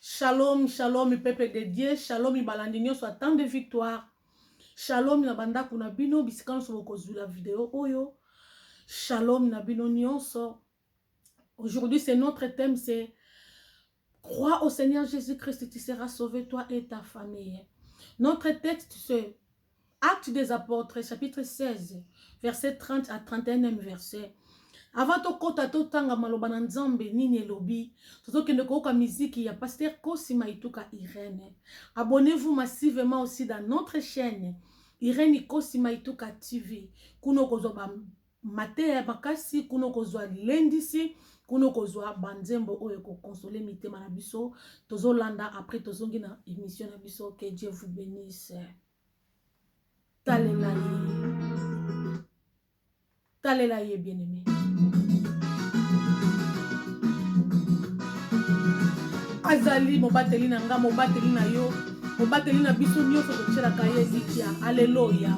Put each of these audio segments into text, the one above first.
Shalom shalom peuple de Dieu shalom balandi nionso ya temps de victoire shalom na bandako na bino bisika nionso bokozwila video oyo shalom na bino nionso aujourd'hui c'est notre thème c'est crois au Seigneur Jésus-Christ tu seras sauvé toi et ta famille notre texte c'est Actes des Apôtres, chapitre 16, verset 30 à 31e verset. Avant tokota totanga maloba na Nzambe nini elobi, tozokende koyoka miziki ya Pasteur Kosi Maituka Irene. Abonnez-vous massivement aussi dans notre chaîne Irene Kosi Maituka TV. Kuna okozwa ba mateya ya makasi kuna okozwa lilendisi kuna okozwa banzembo oyo ekokonsole mitema na biso tozolanda apres tozongi na emission na biso ke dieu vous benisse talela ye talela ye bien aimé azali mobateli na nga mobateli na yo mobateli na biso nyonso totyelaka ye elikya aleloya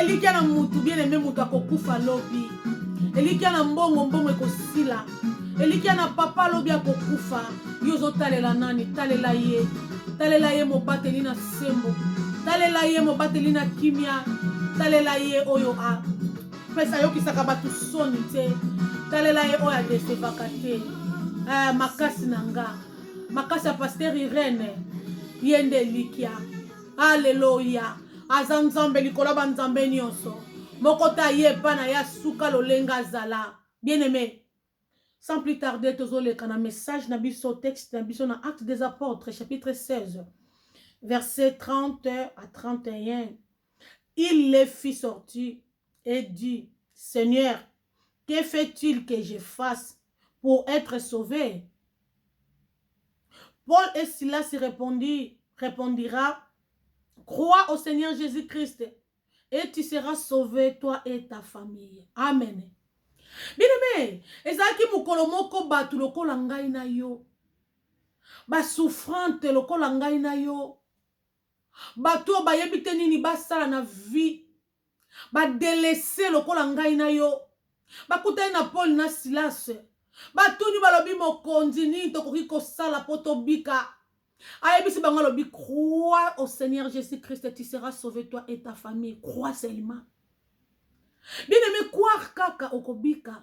elikya na mutu bien aime moto akokufa lobi elikya na mbongo mbongo ekosila elikya na papa lobi akokufa yo ozotalela nani talela ye talela ye mobateli na sembo talela ye mobateli na kimia talela ye oyo apesa ayokisaka bato soni te talela ye oyo adesevaka te eh, makasi na nga makasi ya pasteur irene ye nde elikya aleloya aza nzambe likolo ya banzambe nyonso moko te aye epa na ye asuka lolenge azala bien aime sans plus tarder tozoleka na message na biso texte na biso na acte des apôtres chapitre 16 verset 30 à 31 il les fit sortir et dit seigneur que fait il que je fasse pour etre sauve? Paul et Silas repondit repondira crois au seigneur Jesus Christ et tu seras sauve toi et ta famille amen bineme ezalaki mokolo moko bato lokola ngai na yo basouffrante lokola ngai na yo Batu oyo bayebi te nini basala na vie ba delaisser lokola ngai na yo bakutani na Paul na Silas batuni balobi mokonzi nini tokoki kosala po tobika ayebisi bango alobi crois au Seigneur Jesus Christ tu seras sauvé toi et ta famille crois seulement bien aimé croire kaka okobika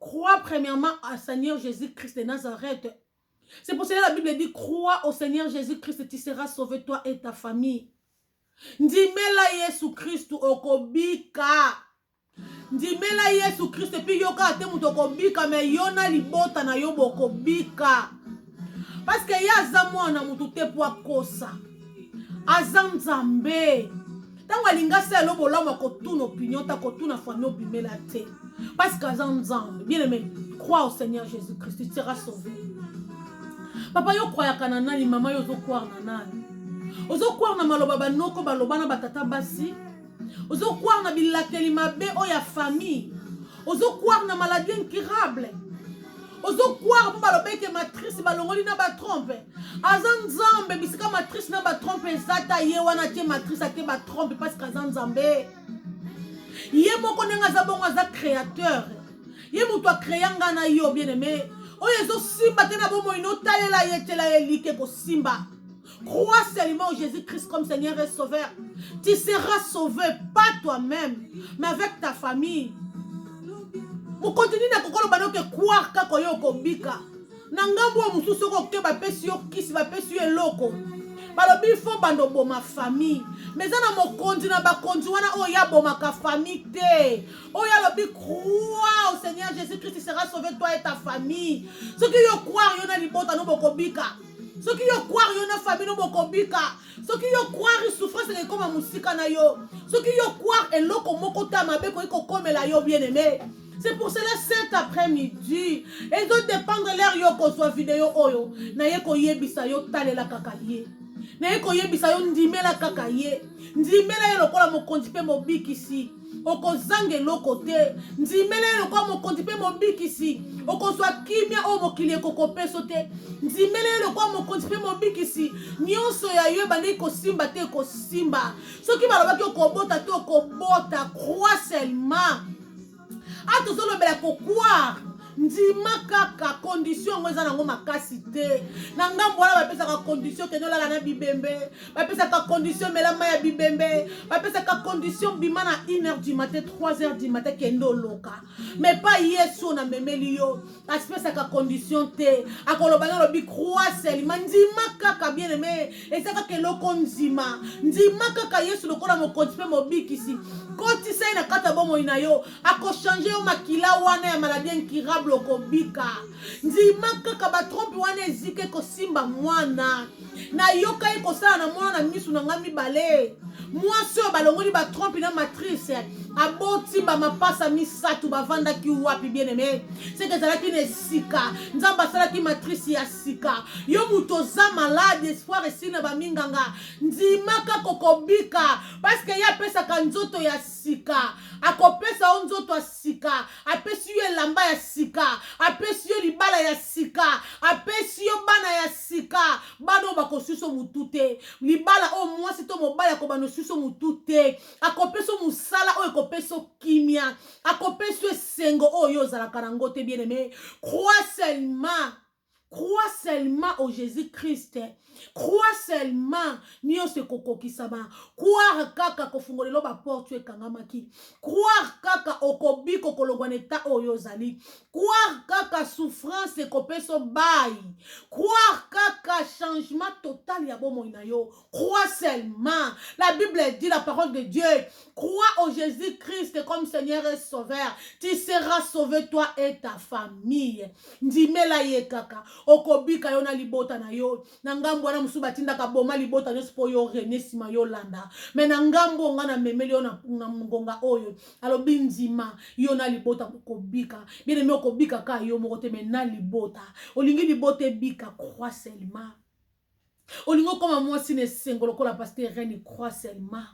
Crois premièrement à Seigneur Jésus-Christ de Nazareth. C'est pour cela la Bible dit, crois au Seigneur Jésus-Christ, tu seras sauvé toi et ta famille. Ndimela Yesu Christ okobika. Ndimela Yesu Christ puis yoka te moto okobika mais yo na libota na yo bokobika. parce que ye aza mwana motu te mpo akosa aza nzambe ntango alingi asala elo bolamu akotuna opinion te akotuna fami obimela te parce que aza nzambe bien aimé crois au seigneur jésus christ tu seras sauvé papa yo kwayaka na nani mama yo ozokwar na nani ozokwar na maloba banoko baloba na batata basi ozo croire na bilakeli mabe oyo ya famille ozo croire na maladie incurable ozo croire mpo balobi ete matrice balongoli na batrompe aza nzambe bisika matrice na batrompe eza ta ye wana te matrice ate batrompe parceke aza nzambe ye moko ndenge aza bongo aza créateur ye moto akrea ngai na yo bien aime oyo ezosimba te na bomoi notalela ye tyela ye like ekosimba Crois seulement en Jésus-Christ comme Seigneur et Sauveur. Tu seras sauvé, pas toi-même, mais avec ta famille. mokonzi nini akoki oloba noke croire kaka oyo okobika na ngambo oyo mosusu soki oke bapesi yo kisi bapesi yo eloko balobi fo bando boma famille me eza na mokonzi na bakonzi wana oyo ye abomaka famille te oyo alobi crois au seigneur jésus christ sera sauvé toi et ta famille soki yo croire yo na libota no bokobika soki yo kware yo na famille no bokobika soki yo kware souffrance eke ekoma mosika na yo soki yo kware eloko moko ta mabe ekoki kokomela yo bien aime c'est pour cela cet après-midi ezo dépendre lere yo kozwa video oyo naye koyebisa yo talela kaka ye naye koyebisa yo ndimela kaka ye ndimela ye lokola mokonzi mpe mobikisi okozanga eloko te ndimela ye lokola mokonzi mpe mobikisi okozwa kimia oyo mokili ekokopeso te ndimela ye lokola mokonzi mpe mobikisi nyonso ya yo ebandeki kosimba te ekosimba soki balobaki okobota te okobota crois seulement a tozolobela kokwar ndima kaka condition yango eza nango makasi te na ngambo wana bapesaka condition kende olala na bibembe bapesaka condition mela mai ya bibembe bapesaka condition bima na 1 heure du matin 3 heure du matin kende oloka mais pa yesu na memeli yo asipesaka condition te akoloba na alobi croix selima ndima kaka bien aime eza kaka eloko ndima ndima kaka yesu lokola mokonzi mpe mobikisi kotisa ye na kati ya bomoi na yo akochange yo makila wana ya maladi incurable okobika ndima kaka batrompe wana ezika ekosimba mwana nayokaki kosala na mwana na misu na ngai mibale mwasi oyo balongoli batrompe na matrice aboti bamapasa misato bavandaki wapi bien aime seke ezalaki na esika nzambe asalaki matrice ya sika yo moto oza malade espoir esili na baminganga ndimaka kokobika paske ye apesaka nzoto ya sika akopesa yo nzoto ya sika apesi yo elamba ya sika apesi yo libala ya sika apesi yo bana ya sika bana oyo bakosuso motu te libala oyo mwasi to mobali akobana osuso motu te akopesa mosala oyo ekopesa kimia akopesa esengo oyo yo ozalaka na yango te bien aime crois seulement Crois seulement au Jesus-Christ. Crois seulement nionso ekokokisama. Croire kaka kofungolelo ba porte ekangamaki. Croire kaka okobika okolongwa na eta oyo ozali. Croire kaka souffrance ekopeso bayi. Croire kaka changement total ya bomoi na yo. Crois seulement. La Bible dit la parole de Dieu. Crois au Jésus-Christ comme Seigneur et Sauveur. Tu seras sauvé toi et ta famille. Ndimela ye kaka. Okobika yo na libota na yo. Na ngambo wana musu batindaka boma libota nyonso po yo rene sima yo landa. Mais na ngambo nga na memeli yo na, na ngonga oyo. Alobi ndima yo na libota okobika. Bien aimé okobika ka yo moko te mais na libota. Olingi libota ebika crois seulement. olingi okoma mwasi na esengo lokola paster reni croix seulement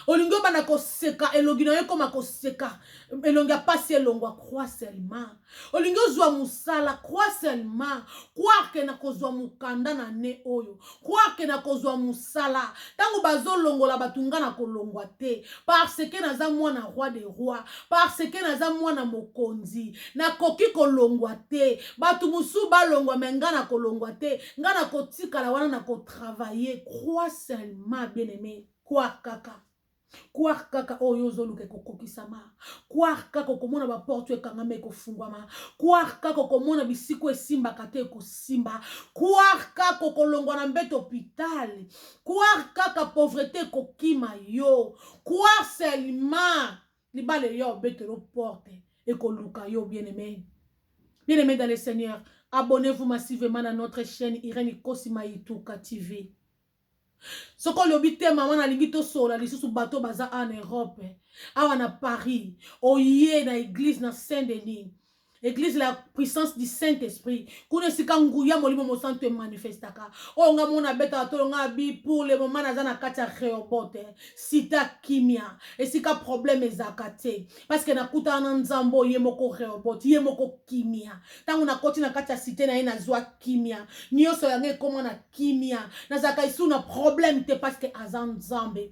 olingi obanda koseka elongi na yo ekoma koseka elongi ya mpasi elongwa croix seulement olingi ozwa mosala croix seulement quarke na kozwa mokanda na ne oyo quarke na kozwa mosala ntango bazolongola bato nga na kolongwa te parce ke naza mwana roi de roi parce ke naza mwana mokonzi nakoki kolongwa te bato mosusu balongwa me ngai nakolongwa te ngai nakotikala wana nakotravaille crois seulement bien aime croire kaka croire kaka oyo oh, yo ozoluka ekokokisama croire kaka okomona baporte oyo ekangama ekofungwama croire kaka okomona bisika oyo esimbaka te ekosimba croire kaka okolongwa na mbete hopital croire kaka pauvrete ekokima yo croire selima libala eya obetelo porte ekoluka yo bien aimé bien aimé dans le seigneur abonnez-vous massivement na notre chaîne irene ikosi maituka tv soki olobi te mama nalingi tosolola lisusu bato baza en europe awa na paris oye na eglise na saint denis eglise la puissance du saint esprit kuna esika nguya molimo mosantu emanifestaka oyo oh, nga mona abetaka tolo nga abi pour le moment naza na kati ya reobote sita kimia esika problème ezalaka te parce que nakutana na nzambe oyo ye moko reobote ye moko kimia ntango nakoti na kati ya site na ye nazwa kimia nyonso yango ekoma na kimia nazalaka esu na problème te parce que aza nzambe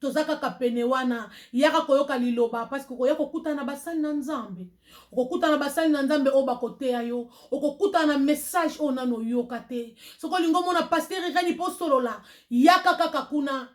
toza kaka pene wana yaka koyoka liloba parceke okoya kokutana na basali na nzambe okokutana na basali na nzambe oyo bakoteya yo okokutana na message oyo nano oyoka te soki olingi omona paster ireni mpo osolola yaka kaka kuna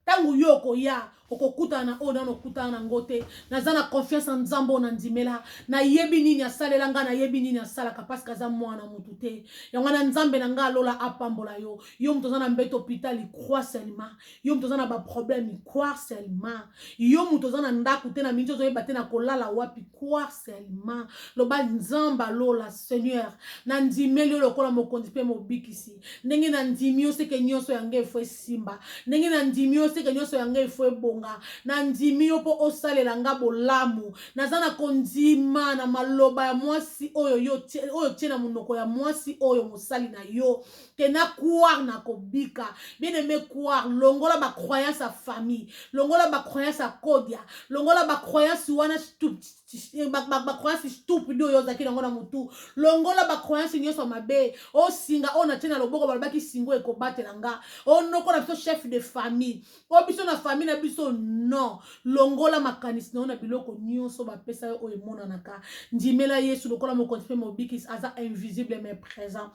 ntango yo okoya okokutana na oyo nano okutana na ngo te naza na confiance na nzambe oyo nandimela nayebi nini asalela ngai nayebi nini asalaka parceke aza mwana motu te yango wana nzambe na ngai alola apambola yo yo moto oza na mbeto hôpital croix seulement yo moto oza na baproblème croire seulement yo moto oza na ndako te na mingi ozoyeba te na kolala wapi croire seulement loba nzambe alola seigneur nandimeli yo lokola mokonzi mpe mobikisi ndenge nandimi yo seke nyonso yango efo esimba ndenge nandimi yo seke nyonso yango efo ebonga nandimi yo mpo osalela nga bolamu naza na kondima na maloba ya mwasi oyo otie na monoko ya mwasi oyo mosali na yo que na croire na kobika bien aimé croire longola ba croyance ya famille longola ba croyance ya kodia longola ba croyance wana ba croyance stupide oyo ozalaki nango na motu longola ba croyance nyonso mabe osinga oyo natie na loboko balobaki singo ekobatela nga onoko na biso chef de famille oyo biso na famille na biso non longola makanisi na yo na biloko nyonso bapesa yo oyo emonanaka ndimela yesu lokola mokonzi mpe mobikisi aza invisible mais présent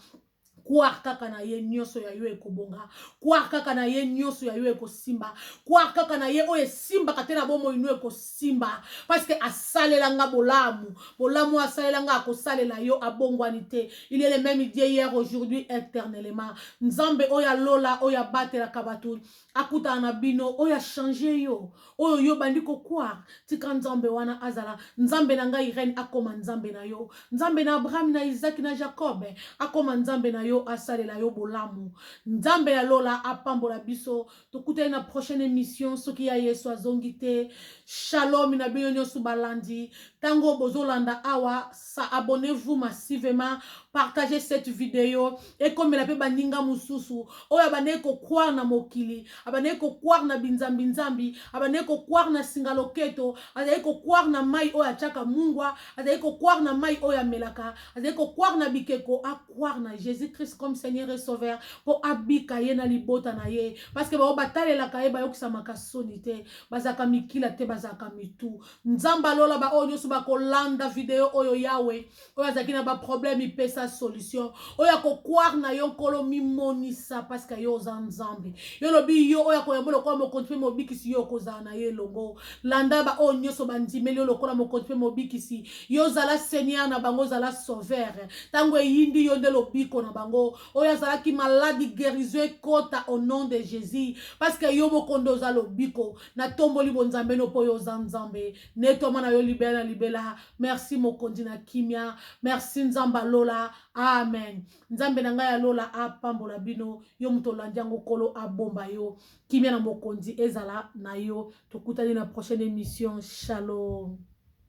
kwar kaka na ye nyonso ya yo ekobonga kwar kaka na ye nyonso ya yo ekosimba kwar kaka na ye oyo esimbaka te na bomoi no ekosimba parceke asalela nga bolamu bolamu oyo asalela nga akosalela yo abongwani te il est le même idie hier aujourd'hui éternellement nzambe oyo alola oyo abatelaka bato akutana na bino oyo achange yo oyo yo bandi kokwar tika nzambe wana azala nzambe na ngai irene akoma nzambe na yo nzambe na abraham na isaki na jacob akoma nzambe na yo asalela yo bolamu nzambe ya lola apambola biso tokutani na prochaine émission soki ya yesu azongi te shalom na bino nyonso balandi ntango bozolanda awa sa abonnez-vous massivement partagez cette video ekomela mpe baninga mosusu oyo abandaki kokware na mokili abandaki kokware na binzambinzambi abandaki kokware na singa loketo azalaki kokware na mai oyo atyaka mungwa azalaki kokware na mai oyo amelaka azalaki kokware na bikeko akware na jésus christ comme seigneur et sauveur mpo abika ye na libota na ye parceke bango batalelaka ye bayokisamaka soni te bazalaka mikila te bazalaka mitu nzambe alola baoyo nyonso bakolanda video oyo yawe oyo azalaki na baproblème ipesa solution oyo akokware na yo nkolo mimonisa parceke yo oza nzambe yo olobi yo oyo akoyamba lokola mokonzi mpe mobikisi yo okozala na ye elongo landa baoyo nyonso bandimeli yo lokola mokonzi mpe mobikisi yo ozala seigneur na bango ozala sauveur ntango eyindi yo nde lobiko na bango oyo azalaki maladi guérison ekota au nom de jésus parceke yo mokonde oza lobiko natomboli bonzambe no mpo yo oza nzambe netwama na yo libela na libela merci mokonzi na kimia merci nzambe alola amen nzambe na ngai ya lola apambola bino yo moto olandi yango kolo abomba yo kimia na mokonzi ezala na yo tokutani na prochaine émission shalom